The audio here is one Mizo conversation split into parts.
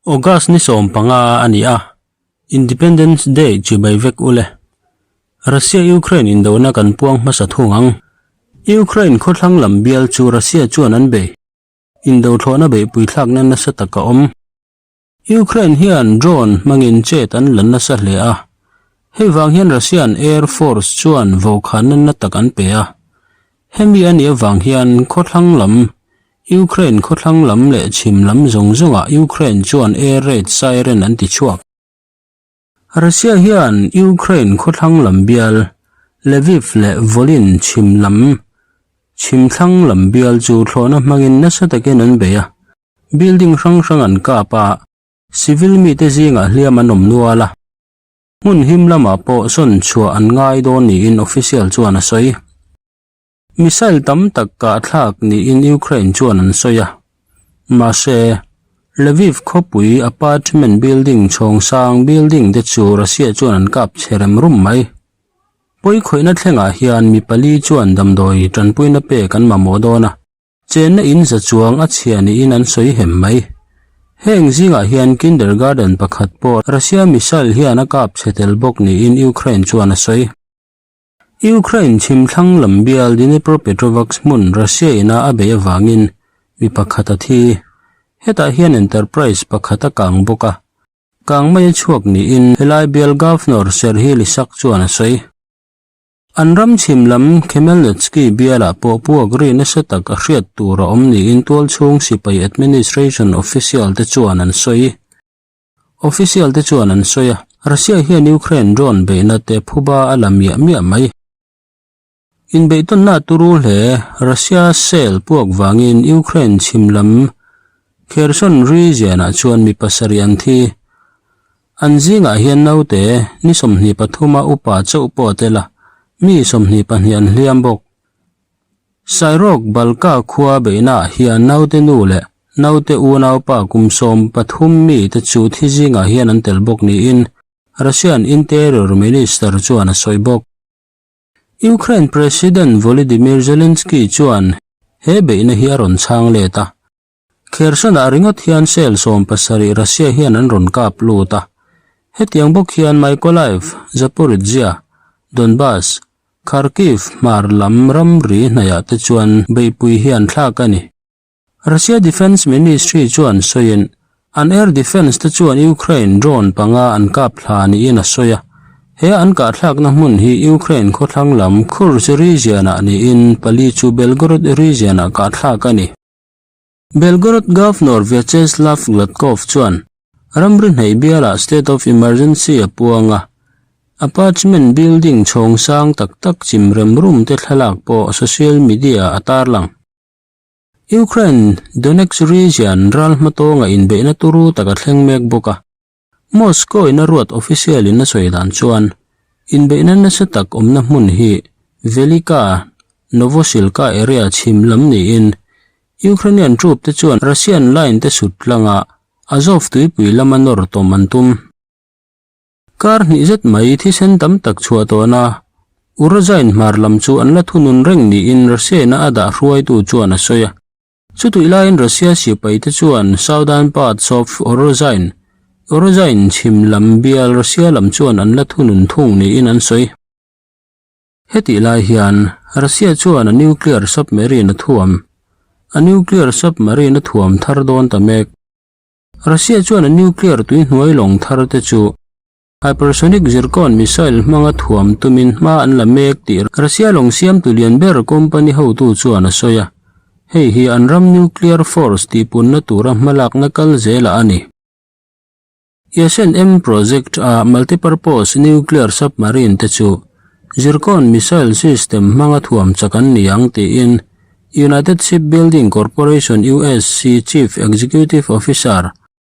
August ni sawm panga a ni a, Independence Day chi bai vek u le. Russia-Ukraine indona kan puang hmasa thung ang. Ukraine khawthlang lam bial chu Russia chuan an bei. Indothlawhna beihpui thlakna nasa tak a awm. Ukraine hian drone hmangin chet an la nasa hle a, hei vang hian Russian Air Force chuan vo kha nanna tak an pe a. Hemi a nih avang hian khawthlang lam, Ukraine khawthlang lam leh chhim lam zawng zawngah Ukraine chuan air raid siren an ti chhuak. Russia hian Ukraine khawthlang lam bial Lviv leh Volyn chhim lam chhim thlang lam bial chu thlawhna hmangin nasa takin an bei a, building hrang hrang an kap a, civil mite zingah hliam an awm nual a. Hmun him lamah pawh sawn chhuah an ngai dawn niin official chuan a sawi. Missile tam tak a thlak niin Ukraine chuan an sawi a. Mahse, Lviv khawpui apartment building chhawng sang building te chu Russia chuan an kap chhe rem rum mai. Pawi khawihna thlengah hian mi pali chuan damdawi tanpuina pek an mamawh dawn a, chenna in za chuang a chhia niin an sawi hem mai. Heng zingah hian kindergarten pakhat pawh Russia missile hian a kap chhe tel bawk niin Ukraine chuan a sawi. Ukraine chhimthlang lam bial Dnepropetrovsk hmun Russia ina a beih avangin mi pakhat a thi. Hetah hian Enterprise pakhat a kang bawk a, kang mai a chhuak niin helai bial governor Serhiy Lysak chuan a sawi. An ram chhim lam Khmelnytsky bialah pawh puak ri nasa tak a hriat tur a awm niin tualchhung sipai administration official te chuan an sawi. Official te chuan an sawi a, Russia hian Ukraine drone beihna te phuba a la miah miah mai. Inbeihtawnna tu ru hle Russia shell puak vangin Ukraine chhim lam Kherson region ah chuan mi pasarih an thi. An zingah hian naute ni sawmhnih pathuma upa chauh pawh a tel a, mi sawmhnih pahnih an hliam bawk. Sairok Balka khua beihnaah hian naute nu leh naute unaupa kum sawm pathum mi te chu thi zingah hian an tel bawk niin Russian Interior Minister chuan a sawi bawk. Ukraine President Volodymyr Zelensky chuan he beihna hi a rawn chhang let a, Kherson-ah ringawt hian cell sawm pasarih Russia hian an rawn kap lut a. Hetiang bawk hian Mykolaiv, Zaporizhzhia, Donbas, Kharkiv hmar lam ramri hnaihah te chuan beihpui hi an thlak a ni. Russia Defence Ministry chuan sawiin, an air defence te chuan Ukraine drone panga an kap thla niin a sawi a. He an kahthlakna hmun hi Ukraine khawthlang lam Kursk region-ah niin pali chu Belgorod region-ah kahthlak a ni. Belgorod Governor Vyacheslav Gladkov chuan ramri hneih bialah state of emergency a puang a, apartment building chhawng sang tak tak chim rem rum te thlalak pawh social media-ah a tarlang. Ukraine Donetsk region ral hma tawnga inbeihna turu taka thleng mek bawk a. Moscow in a ruat official in a sawi dan chuan inbeihna nasa tak awmna hmun hi Velika Novosilka area chhim lam niin Ukrainian troop te chuan Russian line te sut tlanga Azov tuipui lama nawr tawm an tum. Kar hnih zet mai thisen tam tak chhuah tawhna Urazain hmar lam chu an la thunun reng niin Russian-a a dah hruaitu chuan a sawi a. Chutih laiin Russia sipaite chuan southern parts of Urozhain, Urozhain chhim lam bial Russia lam chuan an la thu nunthung niin an sawi. Hetih lai hian Russia chuan a nuclear submarine a thuam, a nuclear submarine a thuam thar dawn ta mek. Russia chuan a nuclear tuihnuai lawng thar te chu Hypersonic Zircon missile hmanga thuam tumin hma an la mek tih Russia lawng siamtu lian ber company hotu chuan a sawi a, hei hi an ram nuclear force tihpunna tura hmalakna kal zela a ni. ISNM project a multipurpose nuclear submarine te chu Zircon missile system hmanga thuam chak an ni ang tiin United Shipbuilding Corporation, USC, Chief Executive Officer,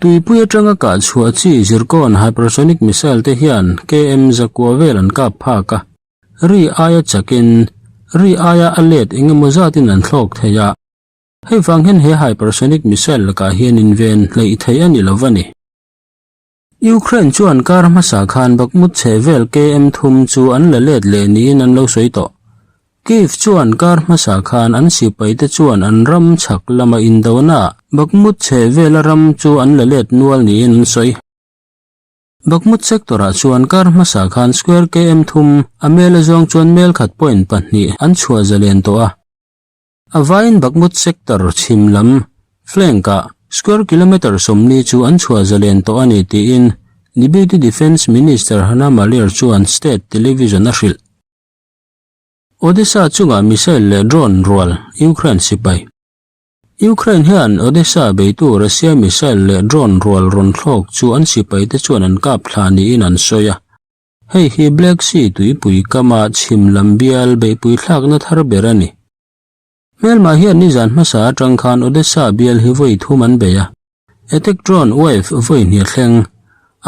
Tuipui atanga kahchhuah chi Zircon hypersonic missile te hian KM Zakua vel an kap phak a. Ri aia chakin, ri aia a let engemaw zatin an thlawk thei a. Hei vang hian he hypersonic missile lakah hian inven hleih thei a ni lo va ni. Ukraine chuan kar hmasa khan bakmut chheh vel KM thum chu an la let leh niin an lo sawi tawh. Kyiv chuan kar hmasa khan an sipaite chuan an ram chhak lama indonaah Bakhmut chheh vela ram chu an la let nual niin an sawi. Bakhmut sector-ah chuan kar hmasa khan square KM thum, a mel a zawng chuan mel khat point pahnih an chhuah zalen tawh a. A vaiin Bakhmut sector chhim lam, flank-ah square kilometre sawmni chu an chhuah zalen tawh a ni tiin Deputy Defence Minister Hanna Maliar chuan state television-a hrilh. Odesa chungah missile leh drone rual Ukraine sipai. Ukraine hian Odesa beitu Russia missile leh drone rual rawn thlawk chu an sipaite chuan an kap thla niin an sawi a. Hei hi Black Sea tuipui kama chhim lam bial beihpui thlakna thar ber a ni. Hmel mah hian nizan hmasa atang khan Odessa bial hi vawi thum an bei a. Attack drone wave vawi hniat thleng.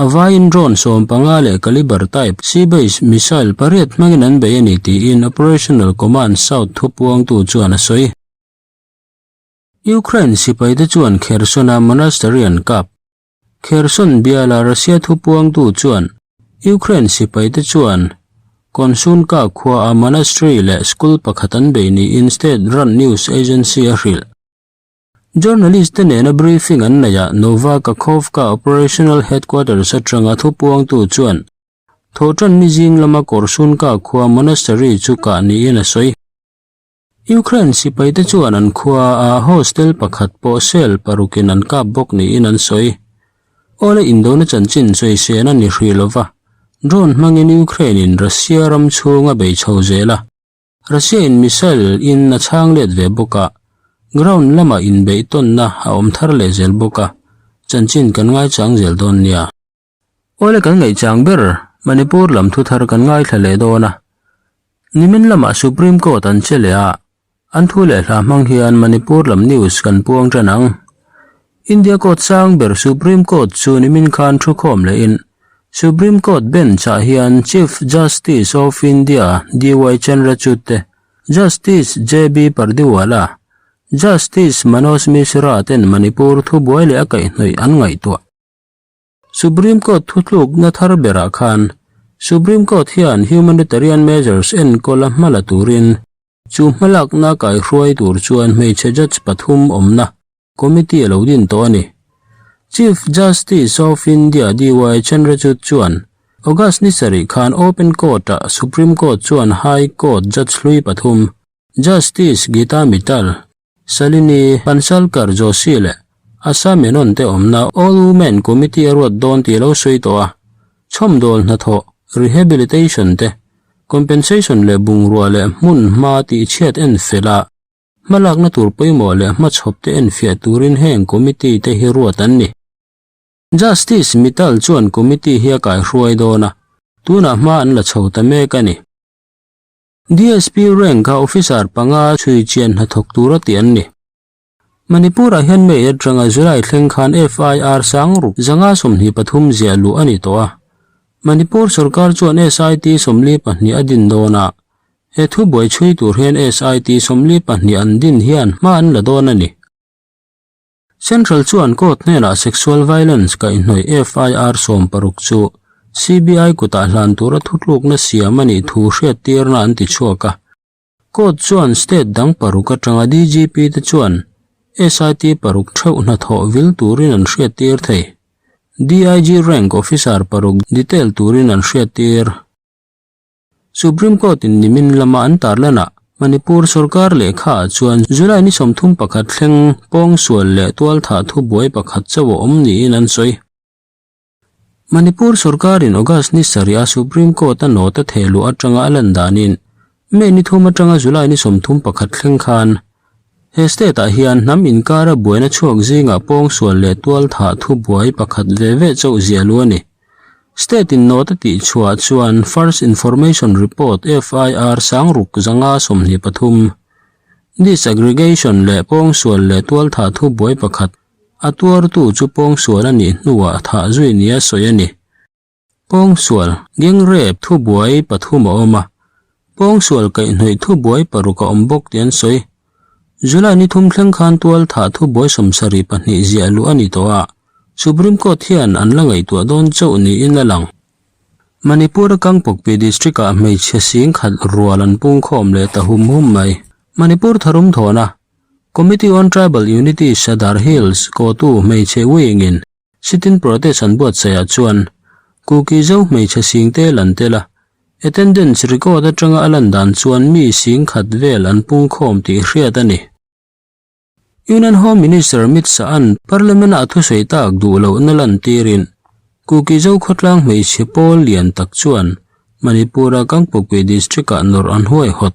A vaiin drone sawm panga leh caliber type sea base missile pariat hmangin an bei a ni tiin Operational Command South thupuangtu chuan a sawi. Ukraine sipaite chuan Khersona monastery an kap. Kherson biala Russia thupuangtu chuan Ukraine sipaite chuan Konsulka khuaa monastery leh school pakhat an bei niin state-run news agency a hrilh. Journalist-te nena briefing an neihah Nova Kakhovka operational headquarters atanga thupuangtu chuan Thawhtanni zing lama Korsunka khua monastery chu kah niin a sawi. Ukraine sipaite chuan an khuaa hostel pakhat pawh shell parukin an kap bawk niin an sawi. Awle indona chanchin sawisena ni hrih lova, drone hmangin Ukraine-in Russia ram chhung a bei chho zel a. Russia-in missile in a chhang let ve bawka, ground lama inbeih tawnna a awm thar leh zel bawka chanchin kan ngaichang zel dawn nia. Aw le kan ngaihchang ber, Manipur lam thu thar kan ngaithla leh dawn a. Nimin lamah Supreme Court an che leh a, an thu leh hlah hmang hian Manipur lam news kan puang tan ang. India Court sang ber Supreme Court chu nimin khan thu khawm leh in Supreme Court Bench ah hian Chief Justice of India DY Chandrachud te, Justice JB Pardiwala, Justice Manoj Mishra ten Manipur thu buai leh a kaihhnawih an ngaihtuah. Supreme Court thutlukna thar berah khan Supreme Court hian humanitarian measures enkawl a hma la turin chu hmalakna kaihruai tur chuan hmeichhe judge pathum awmna committee a lo din tawh a ni. Chief Justice of India DY Chandrachud chuan August ni sarih khan open court ah Supreme Court chuan High Court judge hlui pathum Justice Geeta Mittal, Salini, Pansarkar Joshi leh Asa Menon te awmna All Women Committee a ruat dawn tih a lo sawi tawh a, chhawmdawl hnathawh, rehabilitation, te, compensation leh bungrua leh hmun hma tihchhiat en felha, hma lakna tur pawimawh leh hma chhawp te en fiah turin heng committee te hi ruat an ni. Justice Mittal chuan committee hi a kaihruai dawn a, tunah hma an la chho ta mek a ni. DSP Rank a Officer panga chhuichian hnathawk tur a ti an ni. Manipur ah hian May atanga July thleng khan FIR sang ruk zanga sawmhnih pathum ziah luh a ni tawh a. Manipur sorkar chuan SIT sawmli pahnih a din dawn a, he thu buai chhui tur hian SIT sawmli pahnih an din hian hma an la dawn a ni. Central chuan court hnenah sexual violence kaihhnawih FIR sawm paruk chu CBI kutah hlan tura thutlukna siam anih thu hriattirna an ti chhuak a. Court chuan state dang paruk atanga DGP te chuan SIT paruk theuh hnathawh vil turin an hriattir thei. DIG rank officer paruk detail turin an hriattir. Supreme Court in nimin lama an tarlan ah Manipur sorkar lehkha ah chuan July ni sawmthum pakhat thleng pawng sual leh tual thah thu buai pakhat chauh a awm niin an sawi. Manipur sorkar in August ni sarih a Supreme Court a nawta theh luh atanga a lan danin May ni thum atanga July ni sawmthum pakhat thleng khan he state ah hian hnam inkara buaina chhuak zingah pawng sual leh tual thah thu buai pakhat ve ve chauh ziah lu a ni State-in note a tih chhuah chuan First Information Report, FIR, sang ruk zanga sawmhnih pathum, Disaggregation leh pawngsual leh tualthah thu buai pakhat, a tuartu chu pawngsual a nih hnuah thah zui nia sawi a ni. Pawngsual, gangrape, thu buai pathum a awm a, Pawng sual kaih hnawih thu buai paruk a awm bawk tih an sawi. July ni thum thleng khan tual thah thu buai sawm sarih pahnih ziah luh a ni tawh a, Supreme Court hian an la ngaihtuah dawn chauh niin a lang. Manipura Kangpokpi District ah hmeichhe sing khat rual an pungkhawm leh ta hum hum mai. Manipur Tharum Thawna, Committee on Tribal Unities a dar hills, Kotu, hmeichhe wing in, Sitting protest an buatsaihah chuan Kuki zo hmeichhe sing te lan tel a. Attendance record atanga a lan dan chuan mi sing khat vel an pungkhawm tih hriat a ni. Union Home Minister Mit Sa'n Parliament-a a thusawi tak duh loh na lan tirin Kuki zo khawtlang hmeichhe pawl lian tak chuan Manipur-a Kangpokpi District-ah nawr an huai hawt.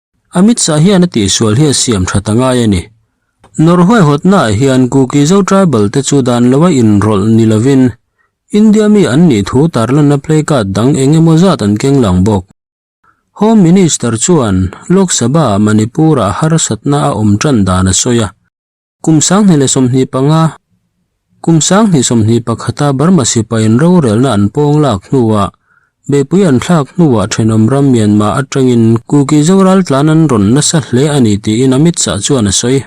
A mitsah hian a tih sual hi a siam ṭhat a ngai a ni. Nawr huaihawtnaah hian Kuki-Zo tribal te chu dan lo a inrawlh ni lovin, India mi an nih thu tar lanna playcard dang eng emaw zat an keng lang bawk. Home Minister chuan Lok Sabha-ah Manipur-ah harsatna a awm ṭan dan a sawi a. Kum sanghnih leh sawmhnih panga Kum sanghnih sawmhnih pakhata Burma sipain rorelna an pawng lak hnuah beipui an thlak hnuah thenawm ram Myanmar atangin Kuki Zoral tlan an rawn nasa hle a ni tiin Amit Shah chuan a sawi.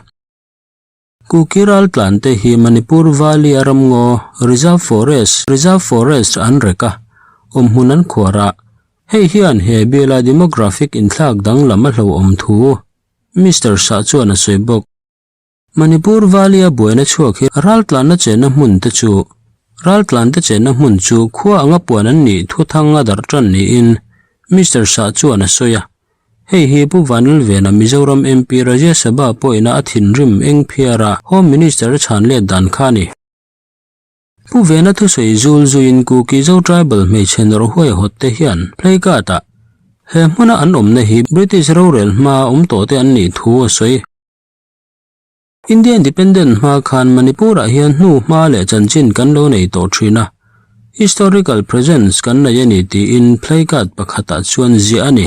Kuki ral tlante hi Manipur Valley a ramngaw Reserve Forest, Reserve Forest, an rek a, awmhmun an khuar a. Hei hian he biala demographic inthlak danglam a hlauhawm thu Mister Shah chuan a sawi bawk. Manipur Valley a buaina chhuak hi ral tlanna chenna hmun te chu ral tlan te chenna hmun chu khua anga puan an nih thuathang a darh tan niin Mister Shah chuan a sawi a. Hei hi Pu Vanlalvena Mizoram MP Rajya Sabha pawina a thinrim engphiara Home Minister a chhanlet dan kha a ni. Pu Vena thusawi zul zuiin Kuki Zo tribal hmeichhe nawr huai hawt te hian Play Card ah he hmuna an awmna hi British rorel hma awm tawh te an nih thu a sawi. India independent hma khan Manipur ah hian hnu hma leh chanchin kan lo nei tawh thin a, historical presence kan nei a ni tiin Play Card pakhat ah chuan ziah a ni.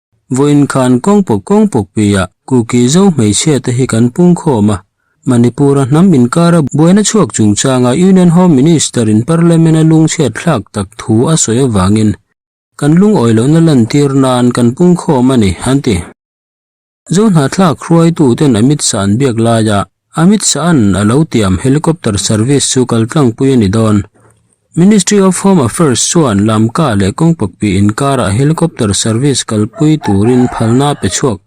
Vawiin khan kawng pawk kawng pawk pia Kuki zo hmeichhia te hi kan pungkhawm a, Manipura hnam inkara buaina chhuak chungchanga Union Home Minister in Parliament a lungchhiat thlak tak thu a sawi avangin kan lungawi lohna lantir nan kan pungkhawm a ni, an ti. Zo hnahthlak hruaituten a mit san biak laiah Amit Shahan a lo tiam helicopter service chu kal tlangpui a ni dawn. Ministry of Home Affairs chuan lamka leh kawng pakpi inkarah helicopter service kalpui turin phalna a pe chhuak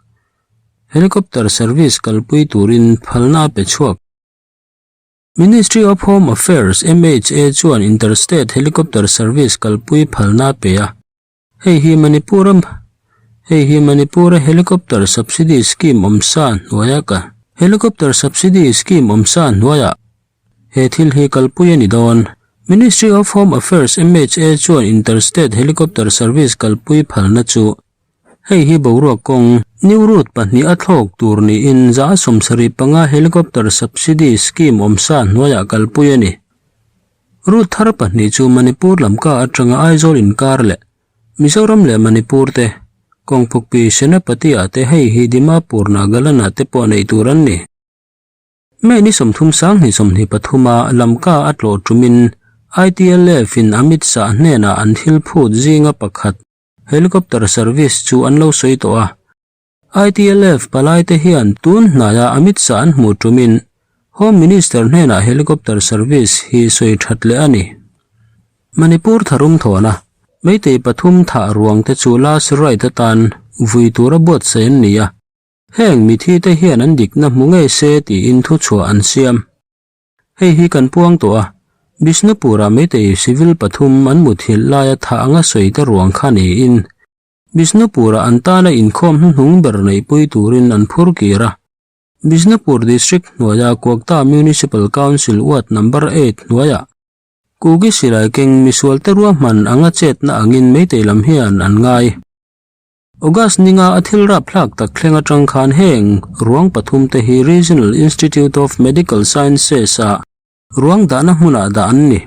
helicopter service kalpui turin phalna a pe chhuak. Ministry of Home Affairs, MHA, chuan interstate helicopter service kalpui phalna a pe a. Hei hi Manipura Hei hi Manipura Helicopter Subsidy Scheme awm sa hnuai a ka Helicopter Subsidy Scheme awm sa hnuai a he thil hi kalpui a ni dawn. Ministry of Home Affairs, MHA, chuan Interstate Helicopter Service kalpui phalna chu hei hi boruak kawng New Route pahnih a thlawk tur niin za sawm sarih panga Helicopter Subsidy Scheme awm sa hnuai a kalpui a ni. Ruth thar pahnih chu Manipur lam ka atanga Aizawl inkar leh Mizoram leh Manipur te, Kawngpukpi, Senapati ah te hei hi Dimapur, Nagaland ah te pawh nei tur an ni. May ni sawmthum sanghnih sawmhnih pathum a lam ka a tlawh tum in ITLF in Amit Shah hnenah an thil phut zinga pakhat, Helicopter service, chu an lo sawi tawh a, ITLF palaite hian tun hnaia a mit sa an hmuh tumin Home Minister hnenah Helicopter Service hi sawi that leh a ni. Manipur tharum thawnah Meitei pathum thah ruang te chu last right atan vui tura buatsaih an ni a, heng mithi te hian an dikna hmu ngei se tiin thu chhuah an siam. Hei hi kan puang tawh a, Bishnupura Meitei civil pathum an mut hilh laia thah anga sawite ruang kha niin Bishnupura an tana inkhawm hnuhnung ber neihpui turin an phur kir a. Bishnupur District hnuaia Kuakta Municipal Council Ward Number eight hnuaia Kuki silai keng misualte ruahman anga chetna angin Meitei lam hian an ngai. August ninga a thil rapthlak tak thleng atang khan heng ruang pathum te hi Regional Institute of Medical Sciences-a ruang dahna hmunah dah an ni.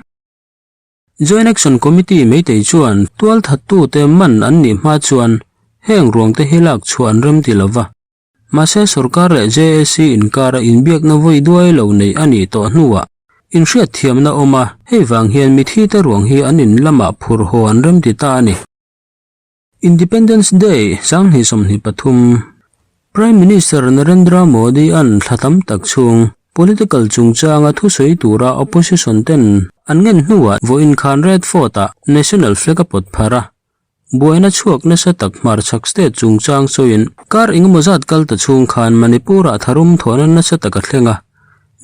Joint Action Committee meitei chuan tual thattute man an nih hma chuan heng ruangte hi lak chhuah an rem ti lova. Mahse sorkar leh JAC inkara inbiakna vawi duai lo neih a nih tawh hnuah in hriatthiamna awm a, hei vang hian mithiite ruang hi an in lamah phur haw an rem ti ta a ni. Independence Day Sanghnih sawmhnih pathum, Prime Minister Narendra Modi-a'n thla tam tak chhung political chungchanga thusawi tura opposition ten an ngen hnuah vaw inkhan red fort-a national flag-a pawt phar a, buaina chhuak nasa tak hmarchhak state chungchang sawiin kar engemaw zat kal ta chhung khan Manipur-a tharum thawhna nasa tak a thleng a,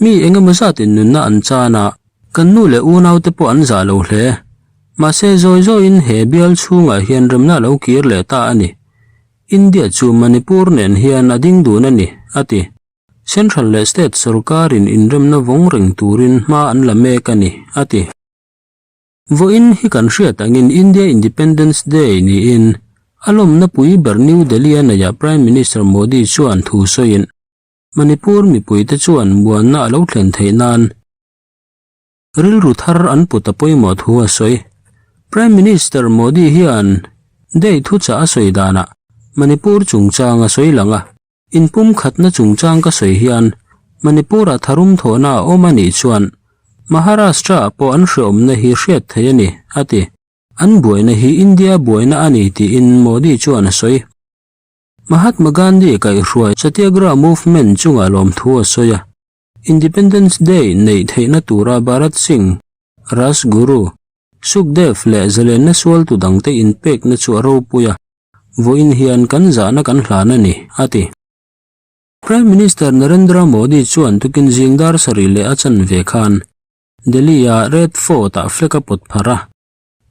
mi engemaw zatin nunna an chana kan nu leh unaute pawh an zah lo hle, Mahse, zawi zawiin he bial chhungah hian remna a lo kir leh ta a ni. India chu Manipur nen hian a ding dun a ni, a ti. Central leh State sorkarin inremna vawng reng turin hma an la mek a ni, a ti. Vawiin hi kan hriat angin India Independence Day niin a lawmnapui ber New Delhi-a neihah Prime Minister Modi chuan thu sawiin Manipur mipuite chuan muanna a lo thlen theih nan, Rilru thar an put a pawimawh thu a sawi. Prime Minister Modi hian Day thuchah a sawi danah Manipur chungchang a sawi lang a, In pumkhatna chungchang ka sawi hian Manipur-a tharum thawhna a awm a nih chuan Maharashtra-ah pawh an hrehawmna hi hriat theih a ni, a ti. An buaina hi India buaina a ni tiin Modi chuan a sawi. Mahatma Gandhi kaihhruai Satyagraha Movement chungah lawm thu a sawi a. Independence Day neih theihna tura Bharat Singh, Rajguru, Sukhdev leh zalenna sualtu dangte inpekna chu a ropui a, vawiin hian kan zahna kan hlan a ni, a ti. Prime Minister Narendra Modi chuan tukin zing dar sarih leh a chanve khan Delhi-a Red Fort-ah flag a pawt pharh a,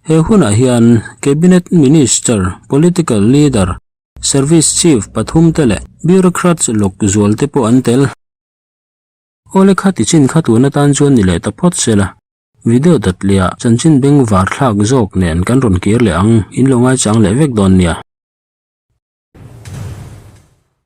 He hunah hian Cabinet Minister, Political Leader, Service Chief pathum te leh Bureaucrats lawk zual te pawh an tel. Aw le kha tichin kha tun atan chuan ni leh ta phawt sela, video dat leha chanchin beng var thlak zawk nen kan rawn kir leh ang, in lo ngaichang leh vek dawn nia.